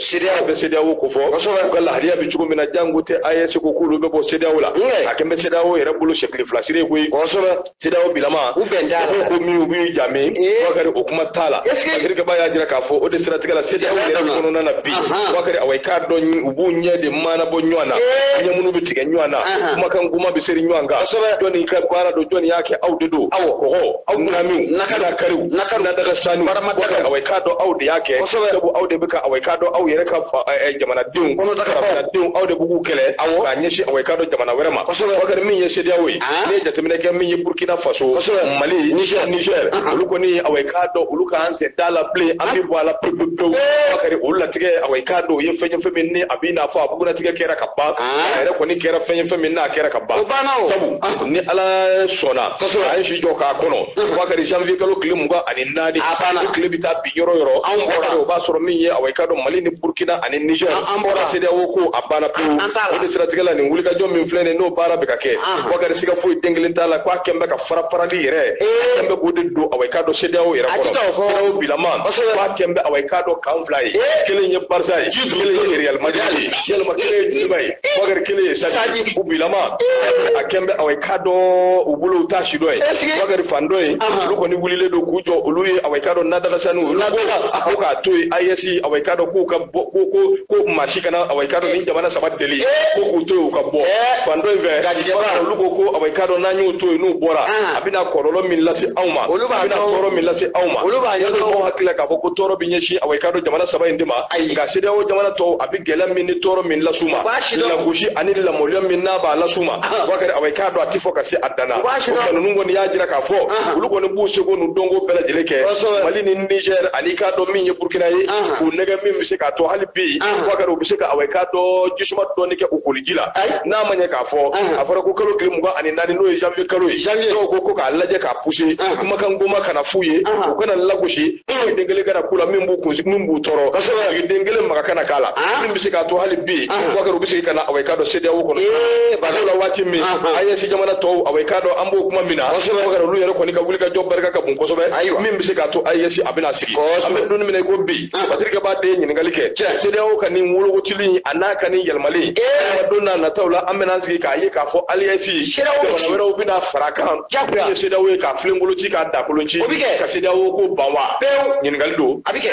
CEDEAO bɛ CEDEAO ko fɔ kosɛbɛ u ka lahalaya bɛ cogo min na jango tɛ AES ko k'olu bɛ bɔ CEDEAO la a kɛn bɛ CEDEAO yɛrɛ bolo sɛkili fila siri koyi kosɛbɛ CEDEAO bilama u bɛn t'a la ko min u b'u ja min Bakari o kuma t'a la Bakari y'a jira k'a fɔ o de siratigɛ la CEDEAO yɛrɛ kɔnɔna na bi Bakari awa i k'a dɔn u b'u ɲɛ de maanabɔ ɲɔgɔn na ɲɛ minnu bɛ tigɛ ɲɔgɔn na kumakan goman bɛ seri ɲɔgɔn kan jɔni ka baara don jɔni y'a kɛ aw de don kɔgɔ aw nami nakara kariw nakara na daga sanu Bakari awa i k'a dɔn aw de y'a kɛ sabu aw de bɛ ka awa i k'a dɔn aw yɛrɛ ka jamanadenw farafinnadenw aw de b'u kɛlɛ k'a ɲɛsin awa i k'a dɔn jamana wɛrɛ ma Bakari min ye CEDEAO ye ne ye jateminɛ kɛ min ye burkina faso mali niger olu kɔni awa i k'a dɔn olu k'an sen t'a la bilen an bɛ bɔ a la pewu pewu Bakari olu latigɛ awa i k'a dɔn o ye fɛn ye fɛn min ni a b'i n'a fɔ a bugunnatigɛ kɛra ka ban a yɛrɛ kɔni kɛra fɛn ye fɛn min n'a kɛra ka ban o banna o sabu ah. ni ala sɔnna kosɛbɛ a ye si jɔ k'a kɔnɔ Bakari janvier kalo tile mugan ani naani a banna o tile bɛ taa bin yɔrɔ yɔrɔ an bɔra o b'a sɔrɔ min ye awa i k'a dɔn mali ni burkina ani niger an bɔra CEDEAO ko a banna pewu o de siratigɛ la nin wulikajɔ min filɛ nin n'o baara bɛ ka kɛ ah. Bakari siga foyi den kelen t'a la ko a kɛn bɛ ka fara farali yɛrɛ eh. a kɛn bɛ k'o de don awa i k'a dɔn CEDEAO yɛrɛ kɔnɔ CEDEAO bilama ko a kɛn bɛ awa i k'a dɔn camp fila ye eh. kelen ye Barça ye kelen ye real madrid ye walima kelen ye Djoliba ye bakari kelen ye Stade u bilama a kɛn bɛ awa i k'a dɔn u bolo u t'a si dɔ ye bakari fan dɔ ye olu kɔni wulilen don k'u jɔ olu ye awa i k'a dɔn nadagasanni olu ko ko k'a to yen AES awa i k'a dɔn k'u ka bɔ ko ko ko maa si kana awa i k'a dɔn nin jamana saba deli ko k'u to yen u ka bɔ fan dɔ in fɛ bakari olu ko ko awa i k'a dɔn n'an y'u to yen n'u bɔra a bɛna kɔlɔlɔ min lase anw ma a bɛna tɔɔrɔ min lase anw ma olu b'a ɲɛdɔn anw hakili la k'a fɔ ko tɔɔrɔ bɛ ɲɛsin awa i k'a dɔn jamana saba in de ma ayi nka CEDEAO jamana tɔw a bɛ gɛlɛya min ni tɔɔrɔ min las'u ma lagosi ani lamaloya min n'a b'a las'u ma Bakari awa i k'a dɔn a tɛ fɔ ka se a dan na o tuma ninnu kɔni y'a jira k'a fɔ olu kɔni b'u seko n'u dɔnko bɛɛ lajɛlen kɛ Mali ni Niger ani i k'a dɔn min ye Burkina ye k'u nɛgɛn min bɛ se k'a to hali bi Bakari u bɛ se ka awa i k'a dɔn jisuma dɔɔni kɛ u koliji la n'a ma ɲɛ k'a fɔ a fɔra ko kalo tile mugan ani naani n'o ye janvier kalo ye dɔw ko ko k'a lajɛ k'a pousser kumakan goman kana f'u ye u kana lagosi e ye den kelen kana k'u la min b'u kun min b'u tɔɔrɔ ka sɔrɔ ka den kelen maga kana k'a la ah. min bɛ se k'a to hali bi Bakari u bɛ segin ka na awa i k'a dɔn CEDEAO kɔnɔ eh, bato la waati min AES jamana tɔw awa i k'a dɔn an b'o kuma min na Bakari olu yɛrɛ kɔni ka wulikajɔ barika ka bon kosɛbɛ min bɛ se k'a to AES a bɛna sigi an bɛ don min na i ko bi Basidiki b'a de ɲininkali kɛ CEDEAO ka nin wologotili an'a ka nin yɛlɛmali eh. don nataw la an bɛna sigi k'a ye k'a fɔ AES jamana wɛrɛw bɛna fara kan min ye CEDEAO ye k'a filenkolon ci k'a dakolon ci o bɛ kɛ ka CEDEAO ko ban wa pewu ɲininkali don a bɛ kɛ